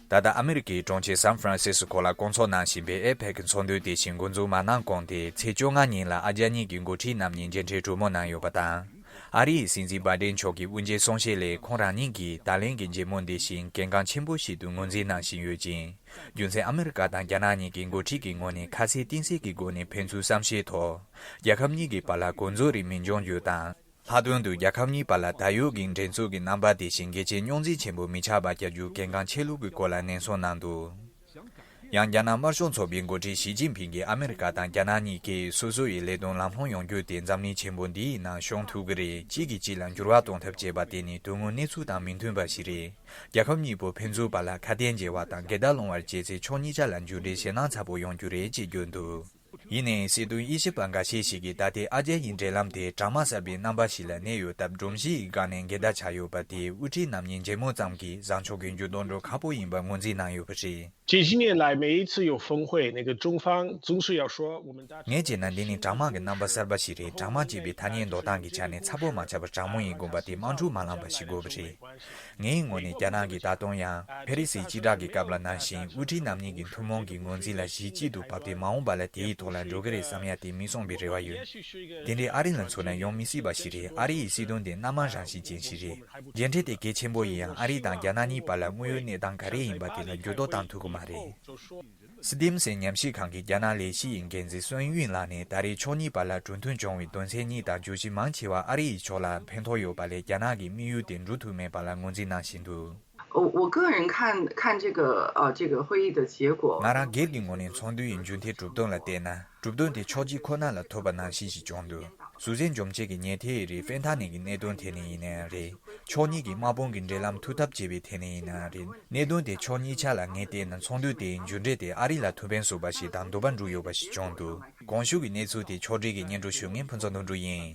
ད་ལྟ་ཨ་མི་རི་ཀའི་གྲོང་ཁྱེར་སཱན་ཧྥི་རན་སི་སི་ཀོ་ལ་བསྐོང་ཚོགས་གནང་བཞིན་པའི་ཨེ་ཕེག་གི་ཚོགས་འདུའི་དེ་བཞིན་མགོ་འཛུགས་མ་གནང་གོང་དེའི་ཚེས་བཅོ་ལྔ་ཉིན་ལ་ཨ་རྒྱ་གཉིས་ཀྱི་མགོ་ཁྲིད་རྣམས་གཉིས་མཇལ་འཕྲད་གྲོས་མོལ་གནང་ཡོད་པ་དང། ཨ་རི་ཡི་སྲིད་འཛིན་སྦ་ཏན་མཆོག་གི་དབུ་འབྱེད་གསུང་བཤད་ལས་ཁོང་རང་ཉིད་ཀྱིས་ད་ལན་གྱི་མཇལ་མོལ་འདི་བཞིན་གལ་འགངས་ཆེན་པོ་ཞིག་ཏུ་ངོས་འཛིན་གནང་བཞིན་ཡོད་ཅིང། རྒྱུ་མཚན་ཨ་མི་རི་ཀ་དང་རྒྱ་ནག་གཉིས་ཀྱི་མགོ་ཁྲིད་ཀྱི་ངོས་ནས་ཁ་གསལ་གཏིང་གསལ་གྱི་སྒོ་ནས་ཕན་ཚུན་བསམ་ཤེས་ཐོག་རྒྱལ་ཁབ་གཉིས་ཀྱི་བར་ལ་གོ་འཛོལ་རིགས་མི་འབྱུང་རྒྱུ་དང། ལྷག་དོན་དུ་རྒྱལ་ཁབ་གཉིས་བར་ལ་ད་ཡོད་ཀྱི་འགྲན་རྩོད་ཀྱི་རྣམ་པ་དེ་བཞིན་གལ་ཆེའི་རྙོག་འཛིང་ཆེན་པོ་མི་ཆགས་པ་བྱ་རྒྱུ་གལ་འགངས་ཆེ་ལུགས་ཀྱི་སྐོར་ལ་ནན་གསུངས་གནང་འདུག་ཡང་རྒྱ་ནག་དམར་ཤོག་ཚོགས་པའི་མགོ་ཁྲིད་ཞི་ཅིན་ཕིང་གིས་ཨ་མི་རི་ཀ་དང་རྒྱ་ནག་གཉིས་ཀས་སོ་སོ་ཡི་ལས་དོན་ལམ་ལྷོང་ཡོང་རྒྱུ་དེ་འཛམ་གླིང་ཆེན་པོ་འདིའི་ནང་ཤོང་ཐུབ་ཀྱི་རེད་གཅིག་གིས་གཅིག་ལ་འགྱུར་བ་གཏོང་ཐབས་བྱེད་པ་དེ་ནི་དོན་དངོས་གནས་ཚུལ་དང་མི་མཐུན་པ་ཞིག་རེད་རྒྱལ་ཁབ་གཉིས་པོ་ཕན་ཚུན་བར་ལ་ཁ་གཏད་འཇལ་བ་དང་འགལ་ཟླ་སློང་བར་བྱས་ཚེ་ཕྱོགས་གཉིས་ཆ་ལ་མཇུག་འབྲས་ཞེད་སྣང་ཚ་པོ་ཡོང་རྒྱུ་རེད་ཅེས་བརྗོད་འདུག། ཡིན་ནའི་སྲིད་དོན་དབྱེ་ཞིབ་པ་འགའ་ཤས་ཤིག་གིས་ད་ལྟའི་ཨ་རྒྱ་ཡི་འབྲེལ་ལམ་དེ་གྲ་མ་གསར་པའི་རྣམ་པ་ཞིག་ལ་གནས་ཡོད་སྟབས་སྒྲོམ་གཞི་ཡི་སྒང་ནས་འགལ་ཟླ་ཆགས་ཡོད་པ་དེས་དབུ་ཁྲིད་རྣམ་གཉིས་མཇལ་མོལ་ཙམ་གྱིས་བཟང་ཕྱོགས་ཀྱི་འགྱུར་ལྡོག་འགྲོ་ཁག་པོ་ཡིན་པར་ངོས་འཛིན་གནང་ཡོད་པ་རེད། ཇི་བཞིན་ངས་ལའེ་མེ་ཡིས་ཚུ་ཡོ་ཧྥུང་ཧུའེ་ནི་གི་ཀྲུང་ཧྥང་ཙུང་ཧྲི་ཡའོ་ཧྲོའོ་ཝུ་མིན་ཏའ་ཁྲི་ངས་བྱས་ན་འདི་ནི་གྲ་མང་གི་རྣམ་པ་གསར་པ་ཞིག་རེད་གྲ་མང་ཅེས་པའི་ཐ་སྙད་འདོགས་སྟངས་ཀྱི་ཆ་ནས་ཚ་པོ་མ་ཆགས་པར་གྲ་མོང་ཡིན་དགོངས་པ་དེ་དམངས་ཁྲོད་མ་ལངས་པ་ཞིག་དགོས་པ་རེད། ངའི་ངོ་ནས་རྒྱ་ནག་གིས་ད་དུང་ཡང་ཕེ་རི་སིའི་སྤྱི་བསྒྲགས་ཀྱི་སྐབས་ལ་ནང་བཞིན་དབུ་ཁྲིད་རྣམ་གཉིས་ཀྱི་ཐུན་མོང་གི་ངོས་འཛིན་ལ་གཞི་གཅིག་ཏུ་བབས་ཏེ་མ་འོངས་པ་ལ་དེའི་ཐོག་ལ་འགྲོ་གི་རེད་བསམ་ཡ་དེ་མི་སོང་པའི་རེ་བ་ཡོད། དེ་འདྲའི་ཨ་རི་ལ་མཚོན་ན་ཡོང་མི་སྲིད་པ་ཞིག་རེད་ཨ་རི་ཡི་སྲིད་དོན་དེ་སྣ་མང་རང་བཞིན་ཅན་ཞིག་རེད། མཇལ་འཕྲད་དེ་གལ་ཆེན་པོ་ཡིན་ཡང་ཨ་རི་དང་རྒྱ་ནག་གཉིས་བར་ལ་དངོས་ཡོད་གནས་སྟངས་ག་རེ་ཡིན་པ་དེ་ལ་འགྱུར་ལྡོག་བཏང་ཐུབ་ཀྱི་མ་རེད། སི་ཏིམ་སེན་ཉམས་ཞིབ་ཁང་གི་རྒྱ་ནག་ལས་གཞི་ཡི་འགན་འཛིན་སོན་དབྱིན་ལགས་ནས་ད་རེས་ཕྱོགས་གཉིས་བར་ལ་གྲོས་མཐུན་བྱུང་བའི་དོན་ཚན་གཉིས་དང་བརྗོད་གཞི་མང་ཆེ་བ་ཨ་རི་ཡི་ཕྱོགས་ལ་ཕན་ཐོགས་ཡོད་པ་ལས་རྒྱ་ནག་གི་དམིགས་ཡུལ་དེ་འགྲུབ་ཐུབ་མེད་པ་ལ་ངོས་འཛིན་གནང་བཞིན་འདུག། ང་རང་སྒེར་གྱི་ངོས་ནས་མཚོན་དོན་ཡིན་མཇུག་མཐའི་གྲུབ་དོན་ལ་བལྟས་ན། གྲུབ་དོན་དེ་ཕྱོགས་གཅིག་ཁོ་ན་ལ་ཐོས་པ་ནང་བཞིན་ཞིག་བྱུང་འདུག་ཟུར་ཟའི་འཇོམས་བྱེད་ཀྱི་ཉལ་ཐའི་ཡི་རིགས་ཕན་ཐག་ནས་ཀྱི་གནད་དོན་ཐད་ནས་ཡིན་ན་ཡང་རེད། ཕྱོགས་གཉིས་ཀྱི་དམག་དཔུང་གི་འབྲེལ་ལམ་འཐུས་ཐབས་བྱེད་པའི་ཐད་ནས་ཡིན་ན་ཡང་རེད། གནད་དོན་དེ་ཕྱོགས་གཉིས་ཆ་ལ་ངས་བལྟས་ན་ཚོགས་འདུ་དེའི་མཇུག་འབྲས་དེ་ཨ་རི་ལ་ཐུག་ཕན་གསོས་པ་ཞིག་དང་འདོད་པ་འགྲུབ་ཡོད་པ་ཞིག་བྱུང་འདུག་གོང་ཞུས་ཀྱི་གནས་ཚུལ་དེ་ཕྱོགས་བསྒྲིགས་ཀྱི་སྙན་སྒྲོན་ཞུ་མཁན་ཕུན་ཚོགས་དོན་གྲུབ་ཡིན།